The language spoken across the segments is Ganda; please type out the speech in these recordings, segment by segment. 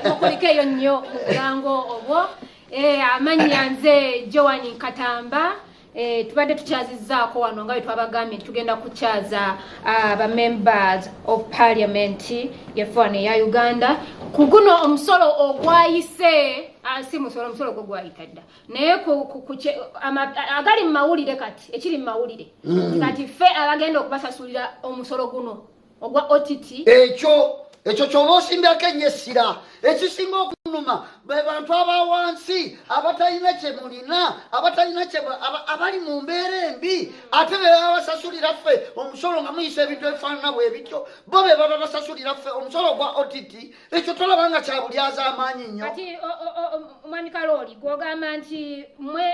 mukulikeyo nnyo mubulango obwo eh, amannya nze joan nkatamba Eh, tubadde tukyazizaako wano nga bwetwabagambye nti tugenda kukyaza ah, ba members of parliament yefano eya uganda ku guno omusolo ogwayise ah, si musolo omusolo gwo gwayita dda naye agali mu mawulire kati ekiri mu mawulire mm. kati ffe abagenda okubasasulira omusolo guno ogwa OTT ekyo ekyo kyoba osimbako ennyo essira ekisinga okunuma be bantu aba wansi abatalina kye mulina abatalina kye abali mu mbeera embi ate be baba basasulira ffe omusolo nga muyisa ebintu ebifaanana bwe bityo bo be baba basasulira ffe omusolo ogwa ott ekyo tolaba nga kya bulyaza amaanyi nnyo kati omwami kalooli gwogamba nti mwe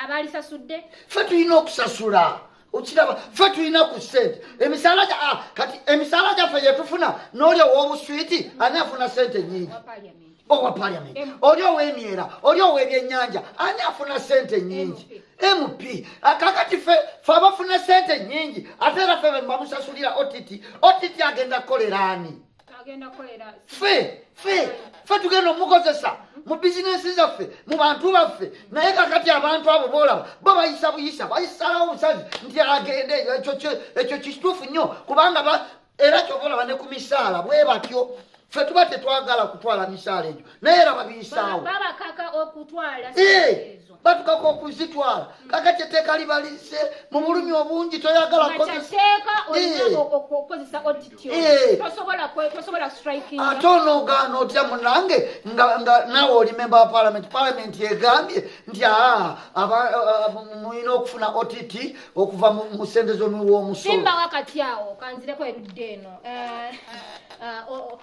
abalisasudde ffe tulina okusasula okiraba ffe tulina ku sente emisaala ah, kati emisaala gyaffe gyetufuna n'oli ow'obuswiti ani afuna sente nyingi owa paliament oli ow'emyera oli ow'ebyennyanja ani afuna sente nyingi mp ah, kakati fe fe abafuna sente nyingi ate era fe bemubamusasulira ott ott agenda kukolera ani ffe ffe ffe tugenda omukozesa mu bizinensi zaffe mu bantu baffe naye kakati abantu abo boolaba bo bayisa buyisa bayisalawo omusazi nti agende ekyo kituufu nnyo kubanga era kyova olaba ne ku misaala bwe batyo ffe tuba tetwagala kutwala misaala egyo naye era babiyisaawo batukako okuzitwala kakati etteeka libalize mu bulumi obungi toyagala ate onogaana otya munange nga naawe oli memba wa palamenti palamenti egambye nti aa mulina okufuna ott okuva mu sente zomuwa omusolokati awo kanzireko erudde eno eh, eh,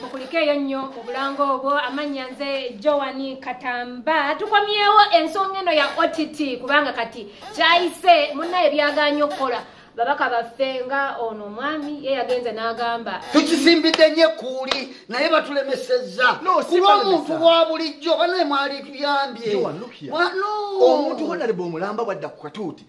mukulikeeyo nnyo obulango obwo amannya nze joani katamba tukomyewo ensonga eno ya ott kubanga kati kyayise munaye byaganya okukola babaka baffe nga ono omwami ye yagenze n'agamba tukisimbidde nye kuuli naye batulemesezza kuba omuntu wa bulijjo banaye mwali tuyambye omuntu honalebe omulamba bwadda ku katuuti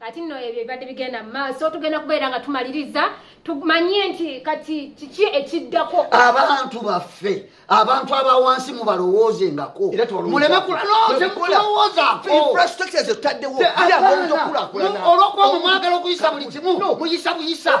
kati nno ebyo ebibadde bigenda mu maaso tugenda kubeera nga tumaliriza tumanye nti kati kiki ekiddako abantu baffe abantu abawansi mubalowoozengako mulemekulalowozaolwokuba mumwagala okuyisa buli kimu muyisa buyisa